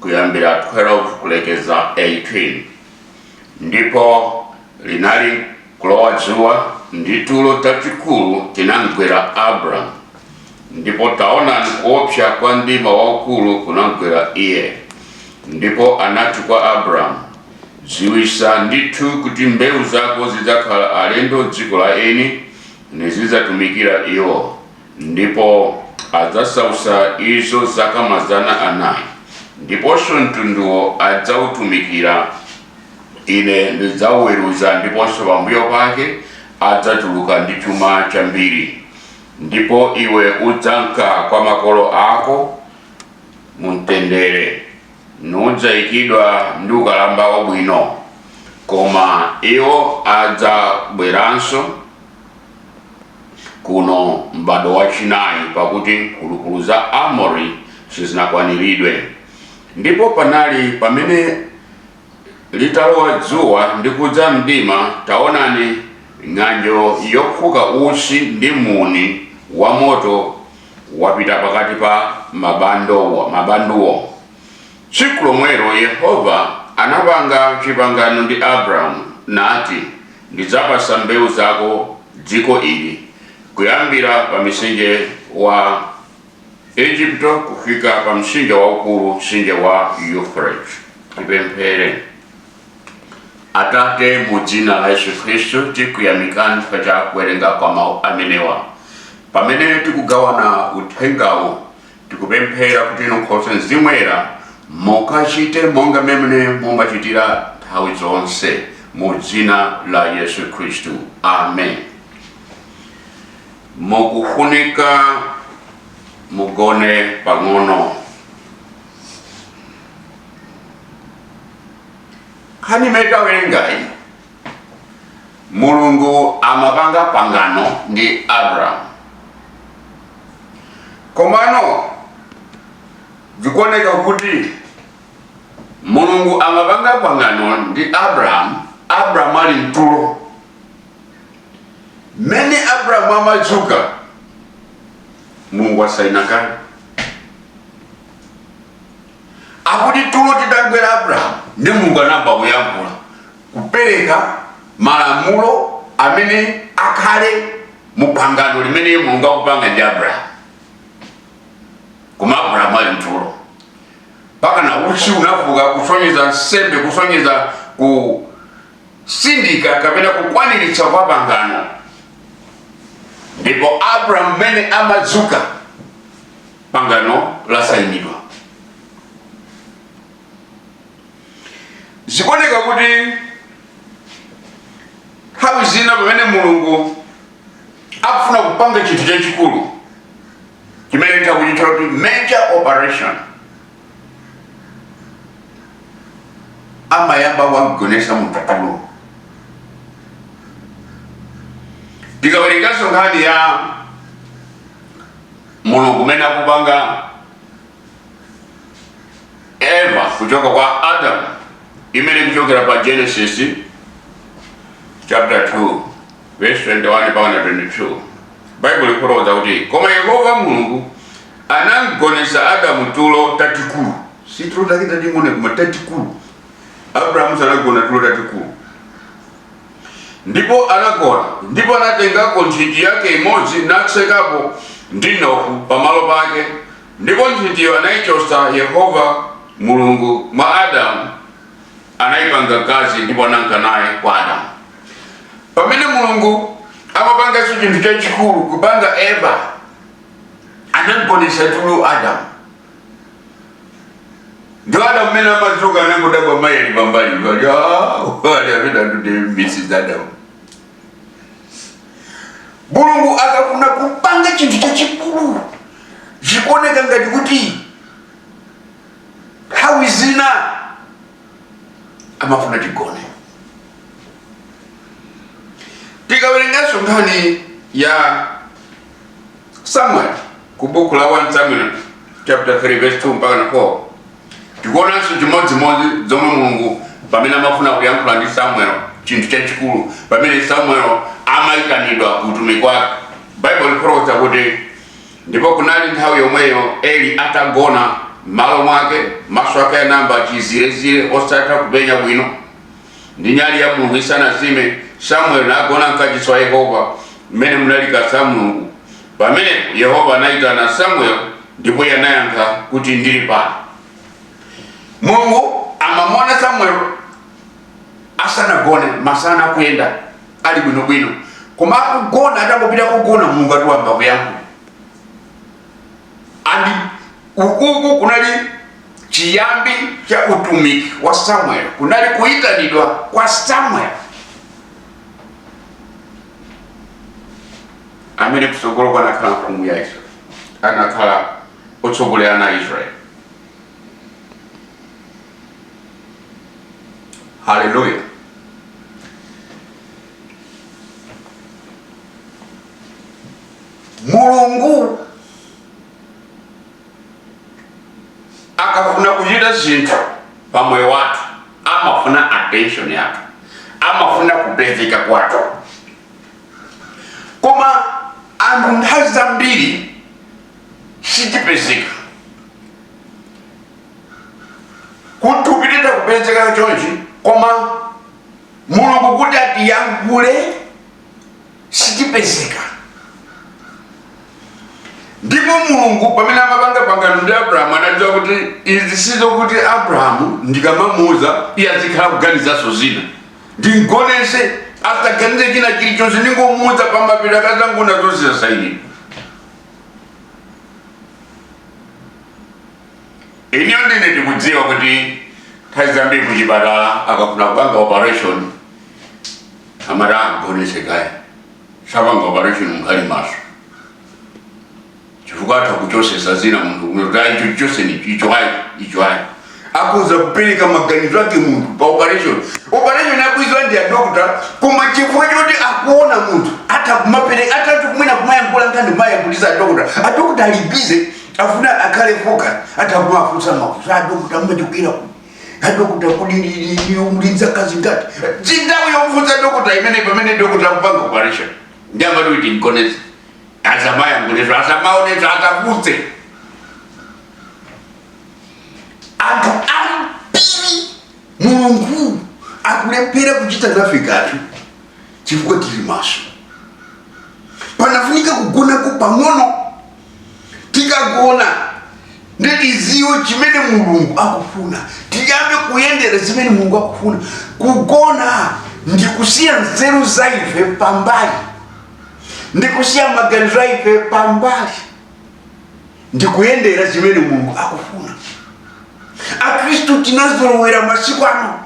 kuyambira 12 kulekeza 18 ndipo linali kulowa dzuwa ndi tulo tatikulu tinamgwera abramu ndipo taonani kuopsa kwa mdima waukulu kunamgwera iye ndipo anati kwa abramu dziwitsa ndithu kuti mbewu zako zidzakhala alendo m'dziko la eni nizidzatumikira iwo ndipo adzasautsa izo zaka mazana anayi ndiponso mtunduwo adzautumikira ine ndidzauweruza ndiponso pambuyo pake adzatuluka ndi chuma chambiri ndipo iwe udzanka kwa makolo ako mumtendere nudzayikidwa ndi ukalamba wabwino koma iwo adzabweranso kuno m'badwo wachinayi pakuti mphulupulu za Amori sizinakwaniridwe. Ndipo panali pamene litalowa dzuwa ndi kudza mdima, taonani, ng'anjo yofuka utsi ndi muuni wa moto wapita pakati pa mabanduwo. Tsiku lomwelo Yehova anapanga chipangano ndi Abramu nati, Ndidzapatsa mbewu zako dziko ili, kuyambira pa mtsinje wa Ejipito kufika pa mtsinje waukulu, mtsinje wa Yufrate. Tipemphere. Atate, mu dzina la Yesu Khristu tikuyamikani chifukwa cha kuwerenga kwa mawu amenewa. Pamene tikugawana uthengawu, Tikupemphera kuti inu nkhoswe Mzimu Woyera mukachite monga mmene mumachitira nthawi zonse mu dzina la Yesu Khristu. Amen. Mukufunika mugone pang'ono. Nkhani imene tawerengayi mulungu amapanga pangano ndi abrahamu komano zikuoneka kuti mulungu amapanga pangano ndi abrahamu abrahamu ali mtulo mmene abrahamu amadzuka mulungu asaina kale akuti tulo tidagwera abrahamu ndi mulungu anayamba kuyankhula kupereka malamulo amene akhale mu pangano limene mulungu akupanga ndi abrahamu koma abrahamu ali mtulo pakana utsi unafuka kusonyeza nsembe kusonyeza kusindika kapena kukwaniritsa kwa pangano ndipo abrahamu mmene amadzuka pangano lasayinidwa zikuoneka kuti nthawi zina pamene mulungu akufuna kupanga chinthu chachikulu chimene tikuchitcha kuti major operation amayamba wamgonetsa munthu tulo tikawerenganso nkhani ya mulungu umene akupanga eva kuchoka kwa adam imene ikuchokera pa genesis chapter 2 verse 21 mpaka 22 baibulo likufotokoza kuti koma yehova mulungu anamgonetsa adamu tulo tatikulu si tulo take tating'ono koma tatikulu abrahamu sanagona tulo tatikulu Ndipo anagona, ndipo anatengako nthiti yake imodzi, natsekapo ndi mnofu pamalo pake, ndipo nthitiyo anaichotsa Yehova Mulungu mwa Adamu, anaipanga mkazi, ndipo ananka naye kwa Adamu. Pamene Mulungu amapanganso chinthu chachikulu, kupanga Eva, anamgonetsa tulo Adamu. ndiye adam mmene amadzuka anangodabwa mayi ali pambali ali ali amene akuti mrs adam mulungu akafuna kupanga chinthu chachikulu zikuoneka ngati kuti nthawi zina amafuna tigone tikawerenganso nkhani ya Samuel ku buku la 1 Samuel chapter 3 verse 2 mpaka 4 tikuonanso chimodzimodzi zomwe mulungu pamene amafuna kuyankhula ndi samuel chinthu chachikulu pamene samuel amayitanidwa ku utumiki wake baibulo likufotokoza kuti ndipo kunali nthawi yomweyo eli atagona malo mwake maso ake anayamba chizirezire osatha kupenya bwino Ndi nyali ya Mulungu isanazime, Samueli nagona m'kachisi wa Yehova, m'mene munali likasa la Mulungu. Pamenepo Yehova anaitana Samueli, ndipo iye anayankha kuti, Ndili pano. Mulungu amamuona Samueli asanagone masana akuyenda ali bwinobwino, koma akugona atangopita kugona, Mulungu akuyamba kuyankhula and ukuku kunali chiyambi cha utumiki wa samuel kunali kuitanidwa kwa samuel amene kutsogolo anakhala mfumu ya israel anakhala otsogolera wa israel haleluya mulungu akafuna kuchita zinthu pa moyo wathu amafuna attention yathu amafuna kupezeka kwathu koma anthu nthawi zambiri sitipezeka kutupitiza kupezeka chonchi koma mulungu kuti atiyankhule sitipezeka ndipo mulungu pamene amapanga pangano ndi abrahamu adadziwa kuti izi sizokuti abrahamu ndikamamuuza iye azikhala kuganizanso zina ndimgoneze asaganize china chilichonse ndingomuuza pamapeto akazangoona zonse zasayinira iniyo nde ndikudziwa kuti nthawi zambiri kuchipatala akafuna kupanga operation amati amgoneze kaye sapanga operation muli maso chifukwa atha kuchotsesa zina munthu kunena kuti ayi icho chotseni icho ayi icho ayi akufuna kupereka maganizo ake munthu pa operation operation akuidziwa ndi adokota koma chifukwa choti akuona munthu atha kumapereka atha mwina kumayankhula nkhani kumayankhulisa adokota adokota ali busy afuna akhale focus atha kumafunsa mafunso adokota mmatikwira ku adokota kodi muli ndi zaka zingati si nthawi yomfunsa dokota imeneyo pamene dokota akupanga operation nde amati kuti mgonezeni asamayankhulenso asamaonenso asafunse anthu ambiri mulungu akulephera kuchita nafe kanthu chifukwa tili maso panafunika kugonako pang'ono tikagona nde tidziwe chimene mulungu akufuna tiyambe kuyendera zimene mulungu akufuna kugona ndikusiya nzeru za ife pambali ndikusiya maganizo a ife pambali ndikuyendera zimene mulungu akufuna akristu tinazolowera masiku ano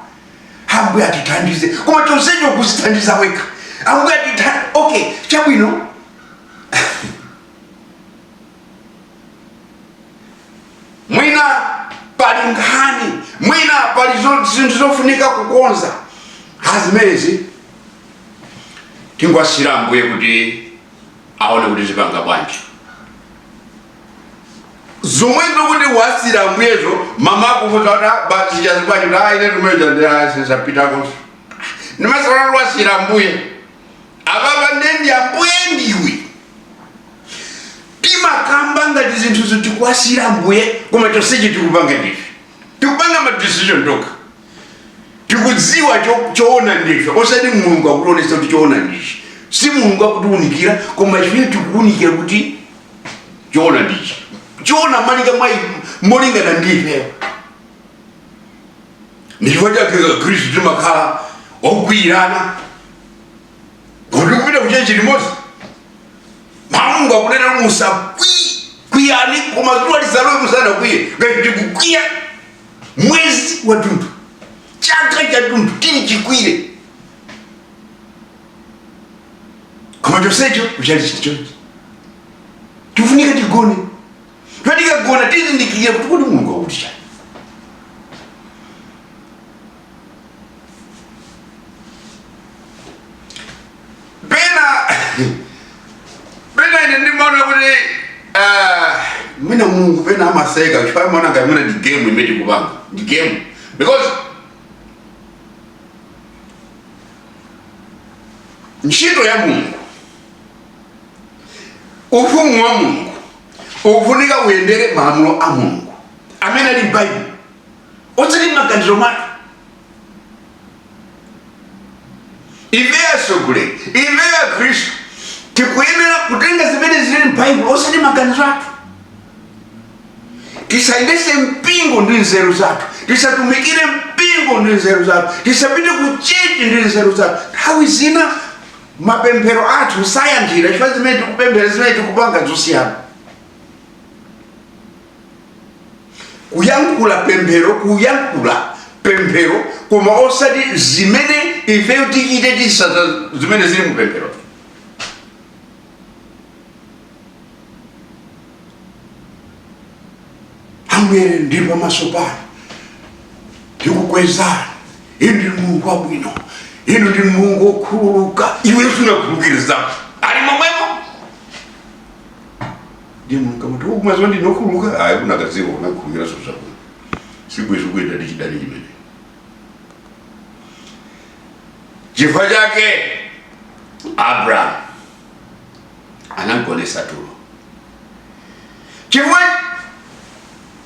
ambuye atithandize koma chonsecho kuzithandiza wekha ambuye atithandize okay chabwino mwina pali nkhani mwina pali zo- zinthu zofunika kukonza ah zimenezi tingowasiyira ambuye kuti aone kuti azipanga bwanji zomwe zokuti wasiyira ambuyezo mama akufunsa kuti basichazibwanji kuti aine tumeja ndiasesapitakonso ndimasalala wasiyira ambuye apapa ndende ambuye ndiwe timakamba ngati zinthuzo tikuwasiyira ambuye koma chonsecho tikupanga ndife tikupanga madecision tokha tikudziwa cho- choona ndife osati mulungu akutionesa kuti choona ndichi si mulungu akutiunikira koma chimene tikuunikira kuti choona ndichi choona malinga mwa molingana ndife ndichifukwa chake akhristu timakhala okwiyirana kuti kupita kuchechi limodzi mulungu akunena kuti kwiyani koma zuwa lisalowe mutakwiya ngati tikukwiya mwezi wathunthu chaka chathunthu tili chikwiyire koma chonsecho kucha kulikonse tifunika tigone tikagona tizindikire kuti kodi mulungu akuti chani pena pena ine ndimaona kuti ah, mwina mulungu pena amaseka chifukwa amaona ngati mwina ndi game imene tikupanga ndi game because ntchito ya mulungu ufumu wa mulungu ukufunika uyendere malamulo a mulungu amene ali m'baibulo osati m'maganizo mwake ife atsogoleri ife akhristu tikuyenera kutenga zimene zili m'baibulo osati maganizo athu tisayendese mpingo ndi nzeru zathu tisatumikire mpingo ndi nzeru zathu tisapite ku chechi ndi nzeru zathu nthawi zina mapemphero athu sayankhidwa chifukwa zimene tikupemphera zimene tikupanga zosiyana kuyankhula pemphero kuyankhula pemphero koma osati zimene ifeyo tikutsata zimene zili mu pemphero ambuye ndili pamaso panu ndikukwezani inu ndinu mulungu wabwino inu ndinu mulungu wokhululuka iwe sunakhululukire mnzako ali momwemo ndiye mulungu amati "Oh, mumadziwa ndine okhululuka ayi ukanadziwa ukanakhulupirira zinthu zabwino sibwezi ukuyenda ndi chidani chimene chifukwa chake abrahamu anamgonesa tulo chifukwa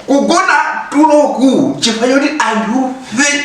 kugona tuloku chifukwa choti anthufe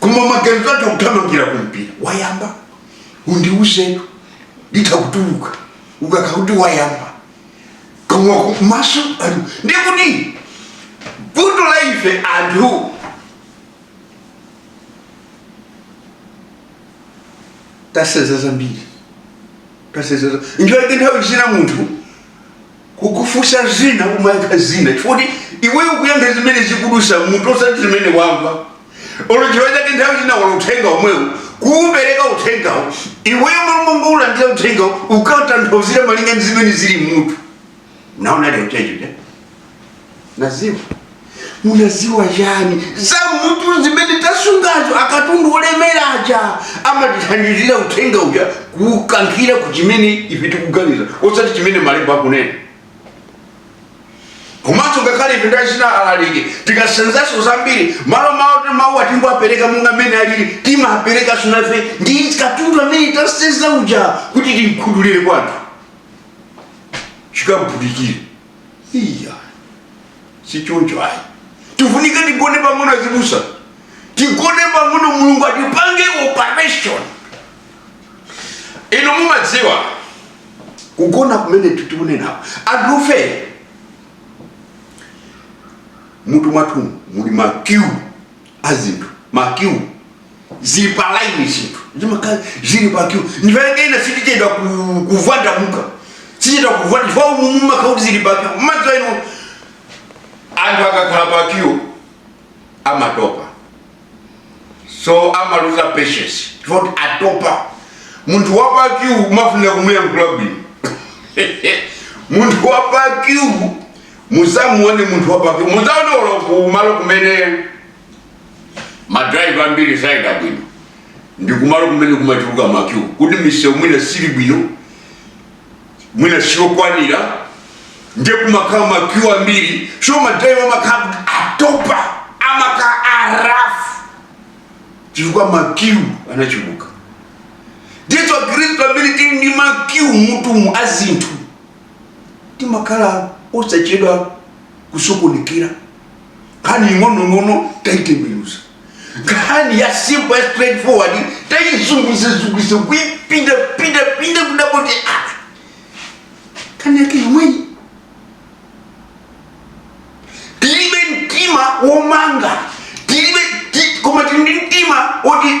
koma maganizo atha kuthamangira kumpira wayamba undiuzetu nditha kutuluka ukakhala kuti wayamba koma maso ali kumaso ndiye kuti vuto la ife anthu tasenza zambiri tasenza nchoyake nthawi zina munthu kukufunsa zina umayankha zina chifukwa iweyo ukuyankha zimene zikudutsa mmutu osati zimene wamva olo chifukwa chake nthawi zina mlaliki uthenga omwewu kuupereka uthengawo iweyo mmalo mongoulandira uthengawo ukautanthauzira malinga ndi zimene zili mmutu naona lero checho nadziwa unadziwa chani za mmutu zimene tasenzazo akatundu olemera aja amatithandizira uthenga uja kuukankhira ku chimene ife tikuganiza osati chimene malemba akunena komanso ngakhale ife tikachita alaliki tikasenzaso zambiri mmalo mwakuti mawu tingowapereka monga mmene alili timapereka so nafe ndi katundu amene tasenza uja kuti timukhuthulire kwa anthu chikamphudikire iya sichoncho ayi tifunika tigone pang'ono azibusa tigone pang'ono mulungu atipange operation inu mumadziwa kugona kumene tikunena anthufe mmutu mwathu muli makiu a zinthu ma Q zili pa line zinthu zimakhala zili pa Q ndipange ine sitichedwa ku- kupfanda kuka sichedwa kupfanda chifukwa umu mumakhala kuti zili pa Q mmadziwa inu anthu akakhala pa Q amatopa so amaluza patience chifukwa kuti atopa munthu wa pa Q umafunika kumuyankhula bwino munthu wa pa Q Musamuone munthu wa pa kyu mudzaone olo kumalo kumene ma driver ambiri sayenda bwino ndi kumalo kumene kumachuluka makyu kuti misewu mwina sili bwino mwina siyokwanira nde kumakhala makyu ambiri so ma driver amakhala kuti atopa amakhala arafu chifukwa makyu anachuluka ndizo akhristu ambiri tili ndi makyu mmutumu a zinthu timakhala osachedwa kusokonekera nkhani ing'onong'ono taitembenuza nkhani ya simple ya straight forward taizunguzazunguza kuipinda pinda pinda kudabwa kuti ah nkhani yake yomweyi tilibe mtima womanga tilibe ti- koma tili ndi mtima woti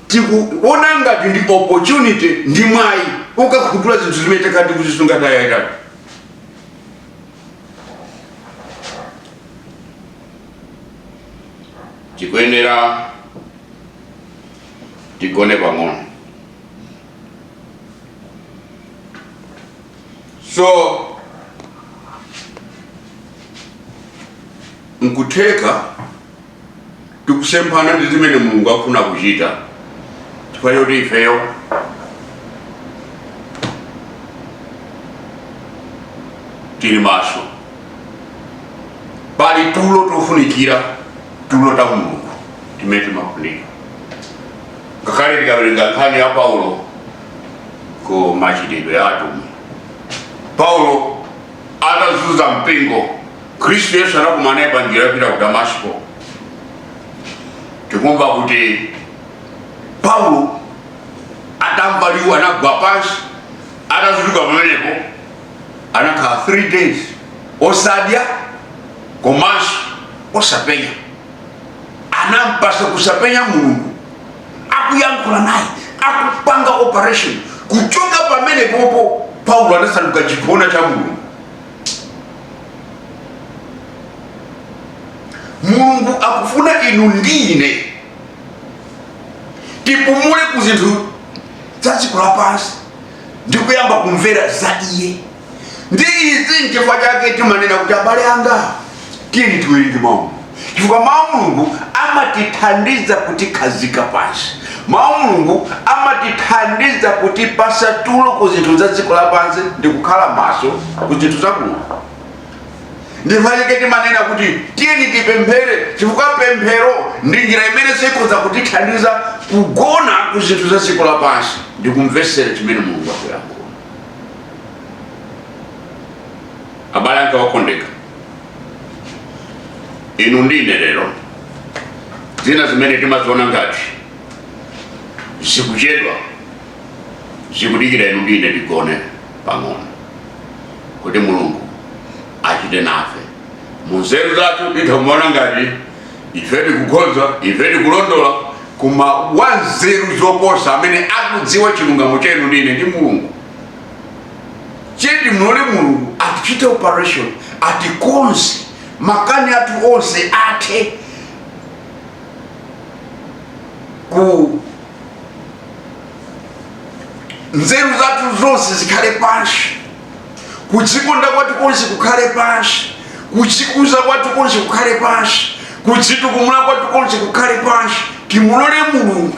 tikuona ngati ndi opportunity ndi mwayi wokakhutula zinthu zimene takhala tikuzisunga nthawi yaitali tikuyenera tigone pang'ono so nkutheka tikusemphana ndi zimene mulungu akufuna kuchita chifukwa choti ifeyo tili maso pali tulo tofunikira tulo ta mulungu timene timafunika ngakhale tikawerenga nkhani ya paulo ku machitidwe a atumwi paulo atazunza mpingo khristu yesu anakumana naye pa njira yopita ku damasiko tikumva kuti paulo atamva liwu anagwa pansi atadzuka pamenepo anakhala 3 days osadya komanso osapenya anampatsa kusapenya mulungu akuyankhula naye akupanga operation kuchoka pamenepopo paulo anasanduka chiphona cha mulungu mulungu akufuna inu ndi ine tipumule ku zinthu za dziko lapansi ndi kuyamba kumvera za iye ndi izi nchifukwa chake timanena kuti abale anga tiyeni tiwerenge mawu chifukwa mawu a mulungu amatithandiza kutikhazika pansi mawu a mulungu amatithandiza kutipatsa tulo ku zinthu za dziko lapansi ndi kukhala maso ku zinthu za mulungu nchifukwa chake timanena kuti tiyeni tipemphere chifukwa pemphero ndi njira imene ikhoza kutithandiza kugona ku zinthu za dziko lapansi ndi kumvetsera chimene mulungu akuyankhula abale anga okondeka inu ndi ine lero zina zimene timaziona ngati zikuchedwa zikudikira inu ndi ine tigone pang'ono kuti mulungu achite nafe munzeru zathu titha kumaona ngati ife tikukhoza ife tikulondola koma wanzeru zoposa amene akudziwa chilungamo chenu ndi ine ndi mulungu che timulole mulungu atichite operation atikonze makani athu onse athe ku nzeru zathu zonse zikhale pansi kudzikonda kwathu konse kukhale pansi kudzikuza kwathu konse kukhale pansi kudzitukumula kwathu konse kukhale pansi timulole mulungu